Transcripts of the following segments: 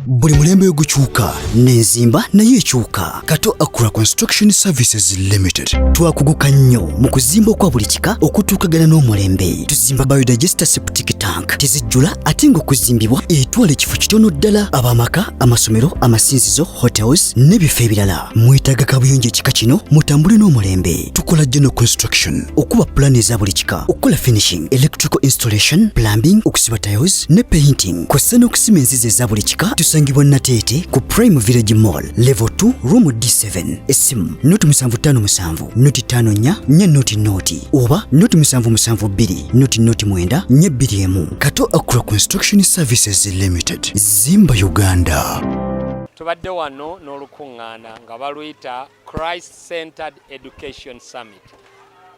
buli mulembe ogukyuka nenzimba nayo ekyuka kato acra construction services limited twakuguka nnyo mu kuzimba okwa buli kika okutuukagana n'omulembe tuzimba biodigester septic tank tezijjula ate ng'okuzimbibwa etwala ekifo kitono ddala abamaka amasomero amasinzizo hotels n'ebifo ebirala mwetaaga kabuyonjo ekika kino mutambule n'omulembe tukola general construction okuba pulaani eza buli kika okukola finishing electrical installation plumbing okusiba tiles ne painting kw'ossa n'okusima enzizi eza buli kika tusangibwa nateete ku prime village mall level 2 room d7 essimu noti 757 noti 54 nye noti noti oba noti 772 noti noti 9 nye 21 kato acro construction services limited zimba uganda tubadde wano n'olukuŋŋaana nga baluyita christ centered education summit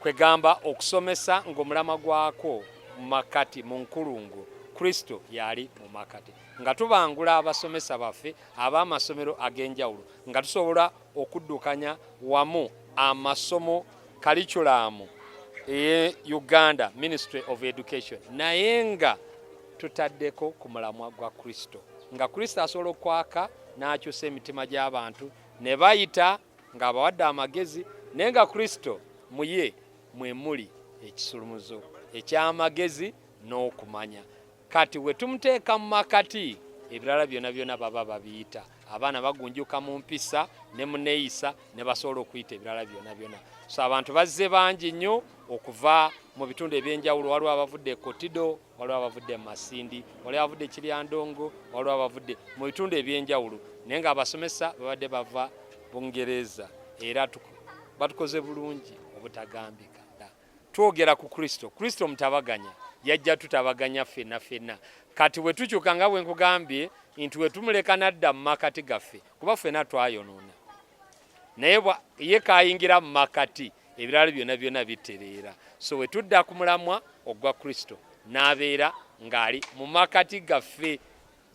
kwegamba okusomesa ng'omulama gwakwo mu makkati mu nkulungo kristo yali mu makkati nga tubangula abasomesa baffe ab'amasomero ag'enjawulo nga tusobola okuddukanya wamu amasomo kaliculamu eye uganda ministry of education naye nga tutaddeko ku mulamwa gwa kristo nga kristo asobola okwaka n'akyusa emitima gy'abantu ne bayita ng'abawadde amagezi naye nga kristo mu ye mwe muli ekisulumuzo eky'amagezi n'okumanya kati we tumuteeka mu makati ebirala byona byona baba babiyita abaana bagunjuka mu mpisa ne mu neeyisa ne basobola okuyita ebirala byona byona so abantu bazze bangi nnyo okuva mu bitundu eby'enjawulo waliwo abavudde e kotido waliwo abavudde mu masindi waliwo abavudde kiryandongo waliwo abavudde mu bitundu ebyenjawulo naye nga abasomesa babadde bava bungereza era batukoze bulungi obutagambika twogera ku kristo kristo mutabaganya yajja tutabaganya fenna fenna kati bwe tukyuka nga bwe nkugambye nti wetumuleka nadda mu makati gaffe kuba ffena twayonoona naye ye kayingira mu makati ebirala byona byona bitereera so wetudda ku mulamwa ogwa kristo n'abeera ng'ali mu makati gaffe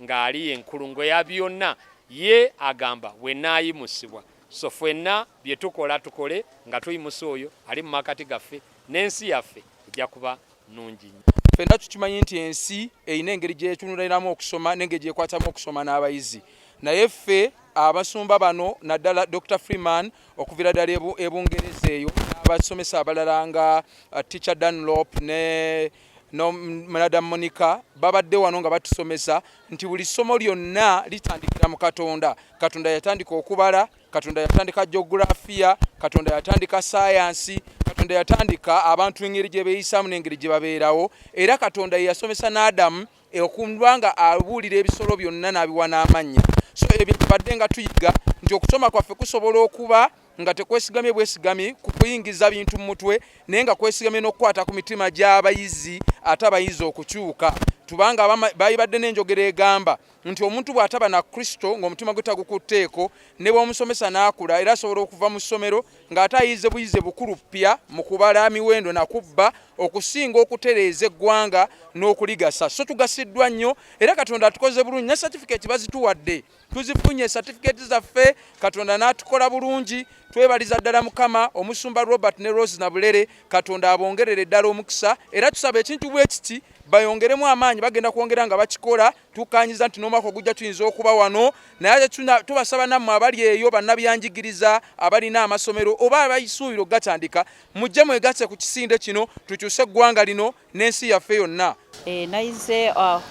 ng'ali enkulungo ya byonna ye agamba bwenaayimusibwa so fwenna bye tukola tukole nga tuyimusa oyo ali mu makati gaffe n'ensi yaffe ejja kuba nungi fenna tukimanyi nti ensi erina engeri gyetunuliramu okusoma nengeri gyekwatamu okusoma n'abayizi naye ffe abasumba bano naddala dr freeman okuvira ddala ebungereza eyo n'abasomesa abalala nga uh, teacher danlop ne mnada monica babadde wano nga batusomesa nti buli ssomo lyonna litandikira mu katonda katonda yatandika okubala katonda yatandika geografiya katonda yatandika sayansi katonda yatandika abantu engeri gye beeyisaamu n'engeri gye babeerawo era katonda ye yasomesa n'adamu okuba nga abuulira ebisolo byonna n'abiwa n'amannya so ebyo tubadde nga tuyiga nti okusoma kwaffe kusobola okuba nga tekwesigamye bwesigami ku kuyingiza bintu mu mutwe naye nga kwesigamye n'okukwata ku mitima gy'abayizi ate abayizi okukyuka tubanga baibadde n'enjogera egamba nti omuntu bw'ataba na kristo ng'omutima gwe tagukutteeko ne bw'omusomesa n'akula era asobola okuva mu ssomero ng'ate ayize buyize bukulu ppya mu kubala miwendo na kubba okusinga okutereeza eggwanga n'okuligasa so tugasiddwa nnyo era katonda atukoze bulungi ne satifikeeti bazituwadde tuzifunye satifikeeti zaffe katonda n'atukola bulungi twebaliza ddala mukama omusumba robert ne rose nabulere katonda abongerere ddala omukisa era tusaba ekintu bwe kiti bayongeremu amaanyi bagenda kwongera nga bakikola tukkanyiza nti n'omwaka ogujja tuyinza okuba wano naye tubasaba nammwe abali eyo bannabyanjigiriza abalina amasomero oba abaisuubira okugatandika mujje mwegatse ku kisinde kino tukyuse eggwanga lino n'ensi yaffe yonna eh, nayize ah,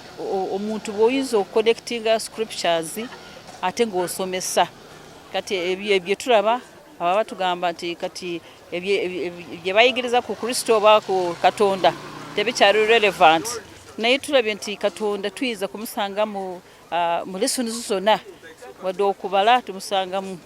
omuntu bw'oyinza okuconnectinga scriptures ate ng'osomesa kati ebyo ebyo tulaba aba batugamba nti kati bye bayigiriza ku kristo oba ku katonda tebikyali relevant naye tulabye nti katonda tuyinza kumusanga mu ah, lesoni zona wadde okubala tumusangamu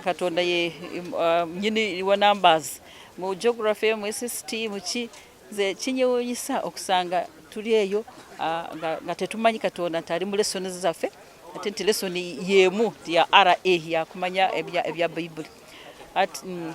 katonda ye ah, nyini wa numbers mu geography mu sst muki nze kinyewunyisa okusanga tuli eyo ah, nga tetumanyi katonda nti ali mu lesoni zaffe ate nti lesoni yemu ya ra yakumanya ebya bayibuli mm.